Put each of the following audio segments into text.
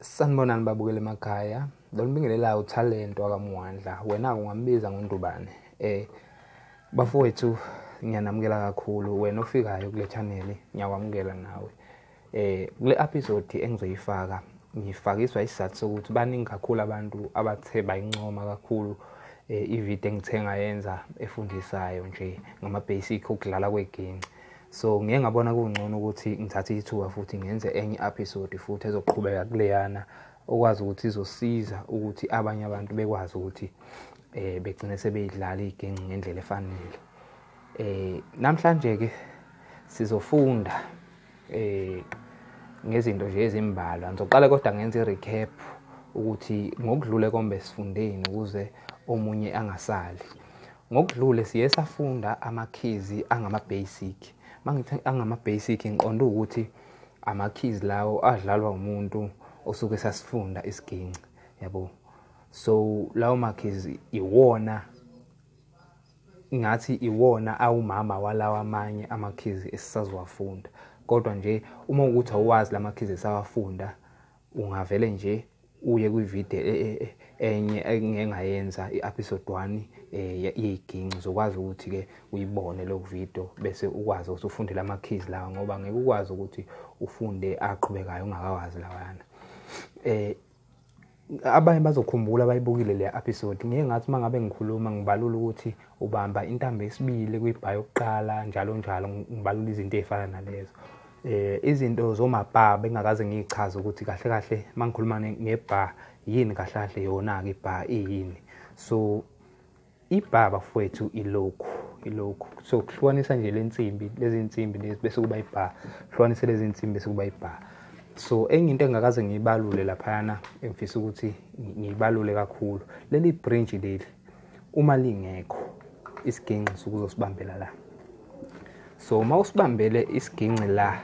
sanibonani babukela emakhaya lolibingelela uthalento akamuwandla wena ungambiza ngondubane eh bafowethu ngiyanamukela kakhulu wena ofikayo kule channel ngiyakwamukela nawe eh kule episode engizoyifaka ngifakiswa isizathu sokuthi baningi kakhulu abantu abathe bayincoma kakhulu eh, ivideo engithe ngayenza efundisayo nje ngama-basic okudlala kwegenci so ngiye ngabona kungcono ukuthi ngithathe ithuba futhi ngenze enye episode futhi ezoqhubeka kuleyana okwazi ukuthi izosiza ukuthi abanye abantu bekwazi ukuthi eh begcine sebeyidlala igenci ngendlela efanele eh namhlanje ke sizofunda eh ngezinto nje ezimbalwa ngizoqala kodwa ngenze recap ukuthi ngokudlule kombe sifundeni ukuze omunye angasali Ngokudlule siye safunda amakhizi angama-basic. Uma ngithi angama-basic ngiqonda ukuthi amakhizi lawo adlalwa umuntu osuke sasifunda isiginci yabo. So lawo makhizi iwona ngathi iwona awumama walawa amanye amakhizi esisaziwafunda. Kodwa nje uma ukuthi awazi lamakhizi esawafunda ungavele nje uye kwivideo e, e, e, enye engengayenza i-episode 1 yeyiginci uzokwazi ukuthi-ke uyibone loku video bese ukwazi ukuthi ufunde la ma-keys lawa ngoba ngeke ukwazi ukuthi ufunde aqhubekayo ungakawazi lawayana um abanye bazokhumbula bayibukile le episode ngeke ngathi uma ngabe ngikhuluma ngibalula ukuthi ubamba intambo yesibili kwibhayi yokuqala njalo njalo ngibalula izinto ey'fana nalezo eh izinto zomabha bengakaze ngichaze ukuthi kahle kahle mangikhuluma ngebha yini kahle kahle yona ke ibha iyini so ibha bafowethu ilokhu ilokhu so kuhlukanisa nje lensimbi lezi nsimbi lezi bese kuba ibha hlukanise lezi nsimbi bese kuba ibha so enye into engakaze ngiyibalule laphayana engifisa ukuthi ngiyibalule kakhulu leli branch leli uma lingekho isiginci sokuzosibambela la so uma usibambele isiginci la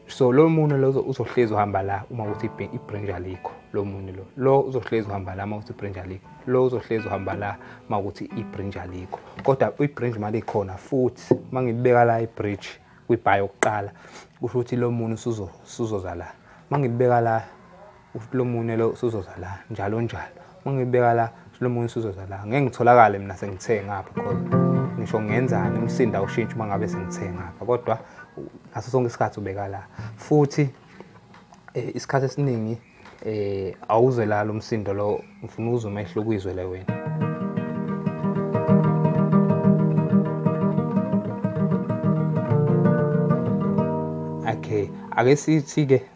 so lo munwe lo uzohlezi uhamba la uma uthi ibranch alikho lo munwe lo lo uzohlezi uhamba la uma uthi ibranch alikho lo uzohlezi uhamba la uma ukuthi ibranch alikho kodwa ibranch mali ikhona futhi uma ngibeka la ibridge kwibhayi yokuqala kusho ukuthi lo munwe usuzoza la uma ngibeka la ufuthi lo munwe lo usuzoza la njalo njalo uma ngibeka la lo munwe usuzoza la ngeke ngitholakale mina sengithe ngapha because ngisho ngenzani umsinda ushintsha uma ngabe sengithe ngapha kodwa ngaso sonke isikhathi ubeka la futhi eh, isikhathi esiningi eh awuzwe la lo msindo lo ngifuna uzwe umehlo kwizwe le wena okay ake sithi ke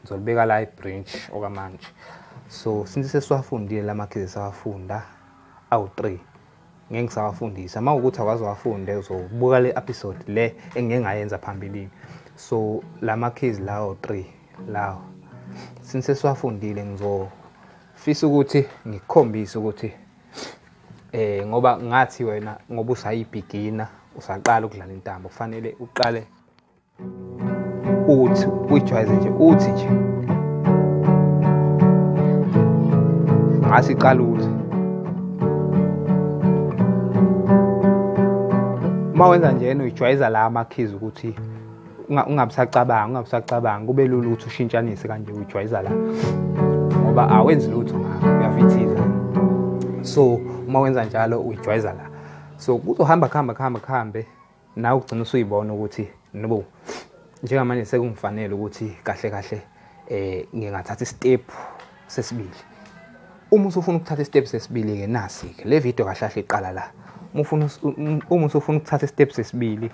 ngizolibeka la ibranch okwamanje so since sesiwafundile la makhize sawafunda awu-three ngeke ngisawafundisa uma ukuthi akwazi wafunde uzobuka le episode le engike ngayenza phambilini so la makhizi lawo three lawo since sesiwafundile ngizofisa ukuthi ngikukhombise ukuthi eh ngoba ngathi wena ngoba usayibigina usaqala ukudlala intambo kufanele uqale uthi uyijwayeze nje uthi nje ngase iqala uthi uma wenza njena uyijwayeza la amakhizi ukuthi ungabusacabanga ungabusacabanga kube lula ukuthi ushintshanise kanje uyijwayeza la ngoba awenzi lutho ngakho uyafithiza so uma wenza njalo uyijwayeza la so kuzohamba kuhamba kuhamba kuhambe nawe ugcina usuyibona ukuthi nobo njengamanje sekungifanele ukuthi kahle kahle eh ngingathatha istep sesibili uma usufuna ukuthatha istep sesibili ke nasi ke le video kahle kahle iqala la uma ufuna uma usufuna ukuthatha istep sesibili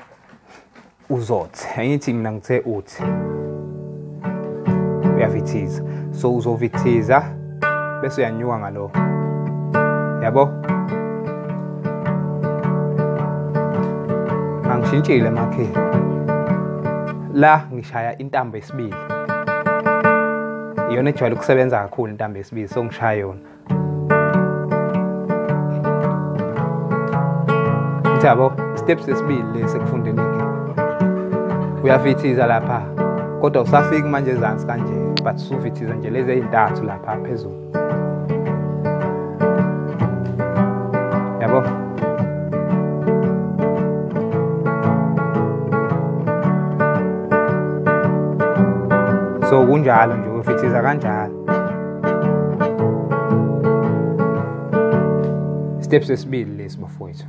uzothi angithi mina ngithe uthi uyavithiza so uzovithiza bese uyanyuka ngalo yabo angishintshile makhe la ngishaya intambo esibili iyona ejwayele ukusebenza kakhulu intambo esibili so ngishaya yona Thabo, step sesibili lesi ekufundeni ke. Uyafithiza lapha. Kodwa usafiki manje ezansi kanje, but sufithiza nje lezi ezintathu lapha phezulu. so kunjalo nje ufithiza kanjalo step sesibili lesi bafowethu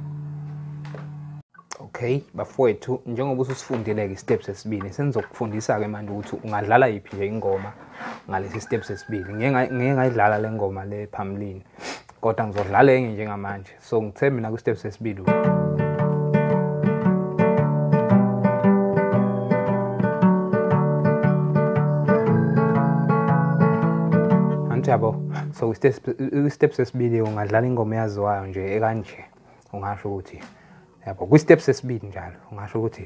okay bafowethu njengoba ususifundile-ke step sesibili senizokufundisa-ke manje ukuthi ungadlala yiphi nje ingoma ngalesi step sesibili ngeke ngayidlala le ngoma le phambilini kodwa ngizodlala enye njengamanje so ngithe mina kwi-step sesibili yabo so kwi-step sesibili ungadlala ingoma eyaziwayo nje ekanje ungasho ukuthi yabo kwi-step sesibili njalo ungasho ukuthi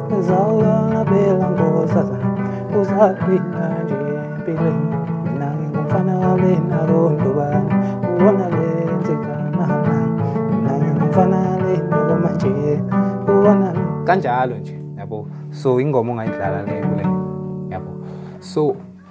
Zawulona bela ngosaza uzaphila nje empilweni mina ngingumfana walena kondobana ubona lenzeka mama mina ngingumfana lena komanje ubona kanjalo nje yabo so ingoma ongayidlala le kule yabo so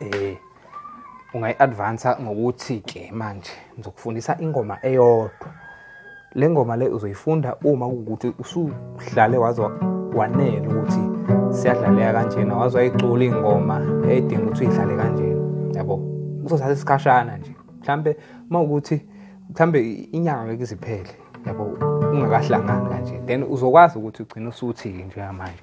eh ungayi-advansa ngokuthi-ke manje ngizokufundisa ingoma eyodwa le ngoma le uzoyifunda uma kuwukuthi usuhlale waze wanele ukuthi siyadlaleka kanjena waze wayicula ingoma edinga ukuthi uyidlale kanjena yabo kuzothatha isikhashana nje mhlampe uma ukuthi mhlampe inyanga ngeke iziphele yabo ungakahlangani kanje then uzokwazi ukuthi ugcine usuthi-ke njengamanje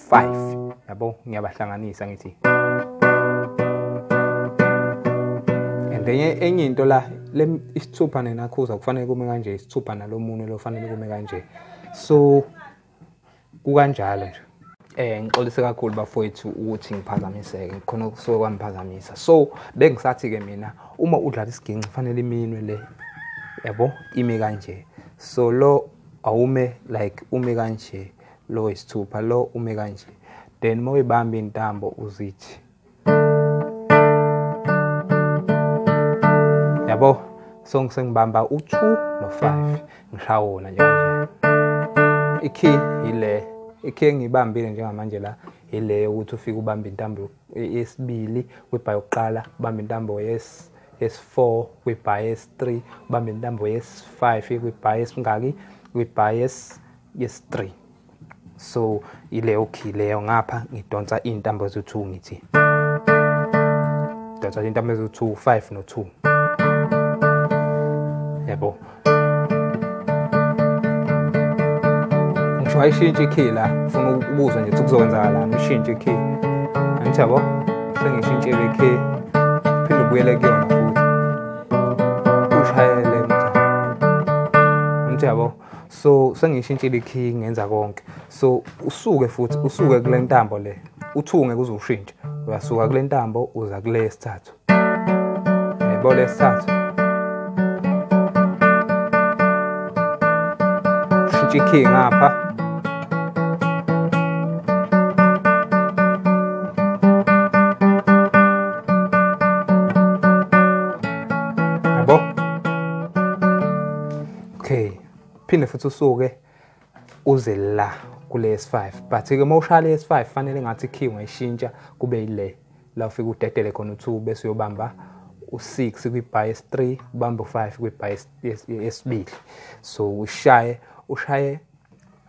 5 yabo ngiyabahlanganisa ngithi and enye enye into la isithupha nenakhuza kufanele kume kanje isithupha nalomunye lo fanele kume kanje so kukanjalo nje eh ngixolise kakhulu bafowethu ukuthi ngiphazamiseke khona kusuke kwamphazamisa so bengisathi ke mina uma udlala isiginci fanele iminwe le yabo ime kanje so lo awume like ume kanje lo wesithupha lo ume kanje then uma uyibamba intambo uzithi yabo so ngisengibamba u2 no5 ngishaya wona nje kanje ikey ile ikey ngibambile njengamanje la ile ukuthi ufike ubamba intambo yesibili kwibhayi yokuqala ubamba intambo yes yes4 kwibhayi yes3 ubamba intambo yes5 kwibhayi esingaki kwibhayi yes yes 3 so ileyo key leyo ngapha ngidonsa intambo ezu2 ngithi donsa intambo ezu2 5 no 2 yebo ngisho ayishintshe ikey la funa ukubuzwa nje ukuthi kuzokwenzakalani ushintshe ikey angithi yabo sengishintshe le key phinde ubuyele kuyona futhi ushayele mtha angithi yabo so sengiyishintshile ikhiyi ngenza konke so usuke futhi usuke kule ntambo le uthunge kuze ushintshe uyasuka kule ntambo uza kule yesithathu yebo lesithathu ushintshe ikhiyi ngapha okay phinde futhi usuke uze la kule S5 but ke uma ushaya le S5 fanele ngathi key ungayishintsha kube ile la ufika udedele khona u2 bese uyobamba u6 kwi bias 3 ubamba u5 kwi bias yesibili so ushaye ushaye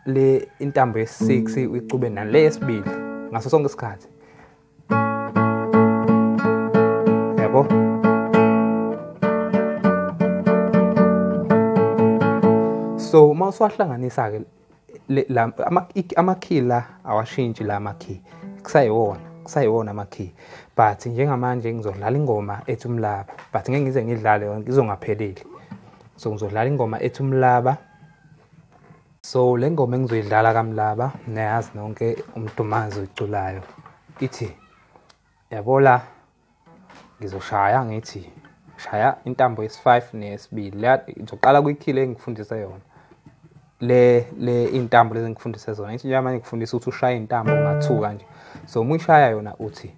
le intambo ye6 uyicube nale yesibili ngaso sonke isikhathi so uma usuwahlanganisa ke amakhi la awashintshi la makhi kusayiwona kusayiwona amakhi but njengamanje ngizodlala ingoma ethi umlaba but ngeke ngize ngidlale yonke izongapheleli so ngizodlala ingoma ethi umlaba so le ngoma engizoyidlala kamlaba niyayazi nonke umdumazi oyiculayo ithi yabola ngizoshaya ngithi shaya intambo yesi-5 neyesibili leya ngizoqala kwikhile engikufundise yona le le intambo lezi ngikufundise zona ithi njengoba manje ngikufundisa ukuthi ushaye intambo ungathuka nje so uma uyishaya yona uthi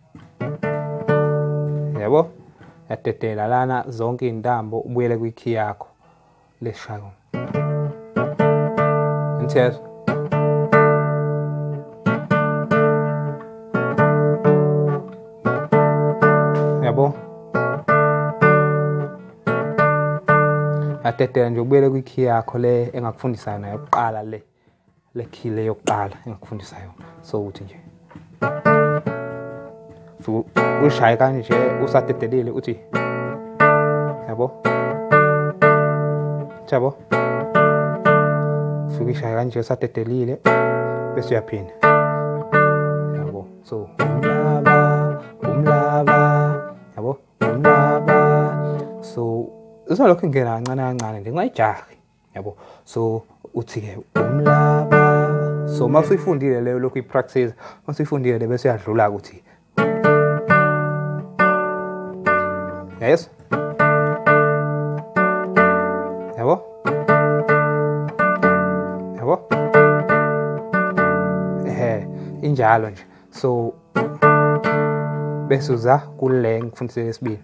yabo yadedela lana zonke iy'ntambo ubuyele kwikhi yakho Leshayong. Inter. Yabo. Atete nje ubuyele kwi key yakho le engakufundisa yona yokuqala le. le key le yokuqala engikufundisa yona so ukuthi nje ushaye kanje usadedelile uthi yabo yabo fika ishaya kanje usadedelile bese uyaphinda yabo so umlaba umlaba yabo umlaba so uzolokhu ingena kancane kancane nje ungayijahi yabo so uthi-ke umlaba so uma usuyifundile leyo lokhu ipractice uma usuyifundile le bese uyadlula-ke ukuthi yes yabo yabo ehe injalo nje so bese uza kule ngifundise lesibili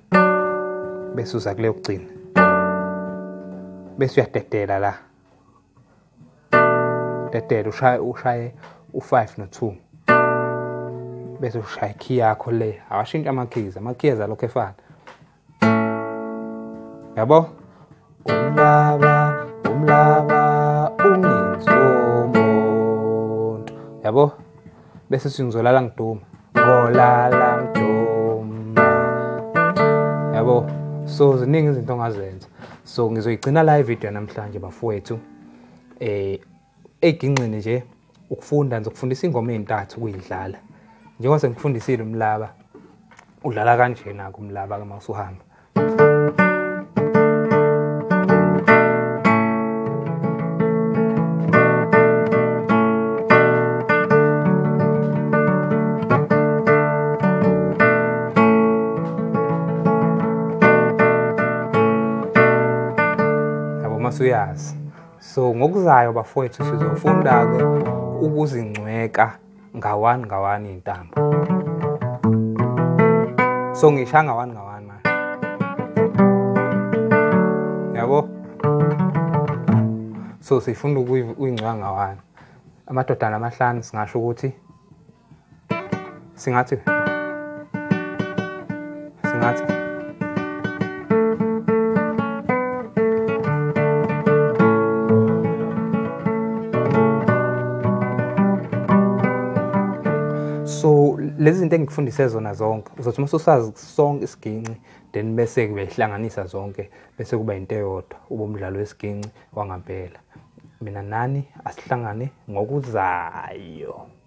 bese uza kule yokugcina bese uyadedela la dedela ushaye ushaye u5 no2 bese ushaya key yakho le awashintsha ama keys ama keys alokho efana yabo umlaba umlaba ungenzi umuntu yabo bese singizolala ngiduma ngolala ngiduma yabo so ziningi izinto ongazenza so ngizoyigcina la ivideo namhlanje bafowethu eh egingqini nje ukufunda ngizokufundisa ingoma ezintathu kuyidlala njengoba sengikufundisile umlaba udlala kanjena kumlaba ke mawusuhamba Yabo masuyazi so ngokuzayo bafowethu sizofunda-ke ukuzingcweka ngawani ngawani intambo so ngisha ngawani ngawani manje yabo so sifunda ukuyingcwa ngawani amadodana amahlanu singasho ukuthi singathi singathi so lezi zinto engikufundise zona zonke uzothi uma usazi sonke isiginci then bese kuyihlanganisa zonke bese kuba into eyodwa uba umdlalo wesiginci wangampela mina nani asihlangane ngokuzayo